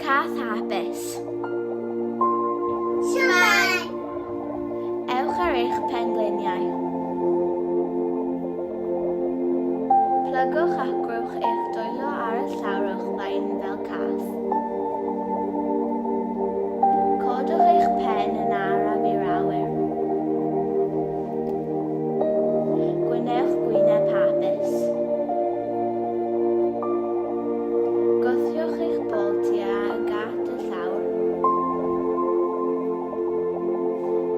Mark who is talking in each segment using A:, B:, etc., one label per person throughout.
A: Cath hapus. Siwmai! Ewch ar eich pengliniau. Plygwch ac gwrwch eich dwylo ar y llawr o'ch blaen fel cath. Codwch eich pen yn araf i'r awyr. Gwnewch gwyneb hapus. Gwthiwch eich bol tua y gat y llawr.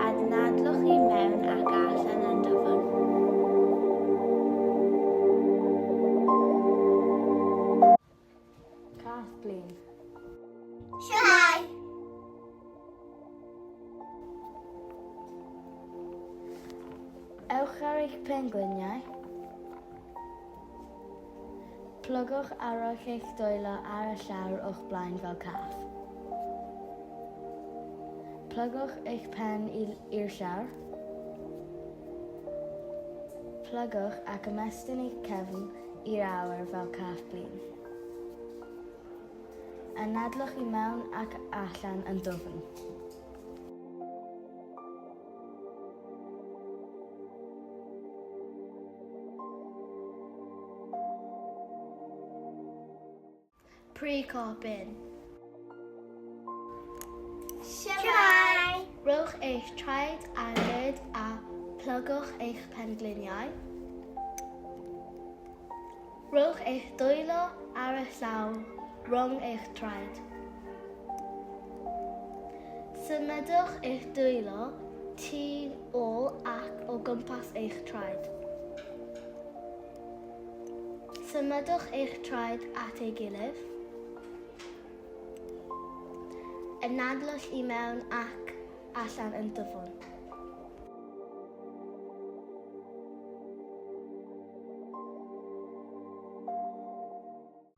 A: Adnadlwch i mewn ac allan yn dyfwn. Cath blin. Siwmai! Ewch ar eich pengliniau. Plygwch arall eich dwylo ar y llawr o'ch blaen fel cath. Plygwch eich pen i'r llawr. Plygwch ac ymestyn eich cefn i'r awyr fel cath blin. Anadlwch i mewn ac allan yn dwfn. Pre-copyn. Siamai! Rhowch eich traed ar led a plygwch eich pengliniau. Rhowch eich dwylo ar y llaw rhwng eich traed. Symudwch eich dwylo tu ôl ac o gwmpas eich traed. Symudwch eich traed at ei gilydd. Ynadlwch i mewn ac allan yn dyfwn.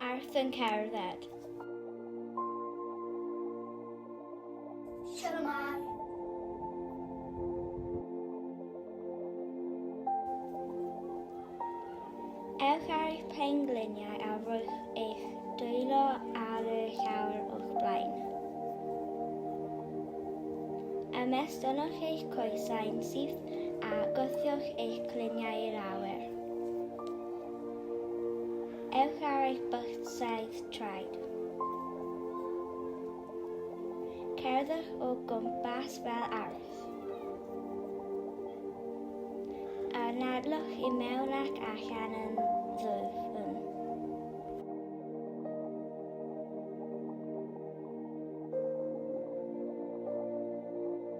A: Arth yn cerdded. Shalom Arth. Ewch ar eich pengliniau a rhowch eich dwylo ar y llawr o'ch blaen. Ymestynwch eich coesau'n syth a gothiwch eich cliniau i'r awyr. Ewch ar eich bythsaeth traed. Cerddwch o gwmpas fel arall. Anadlwch i mewn ac allan yn ddwfn.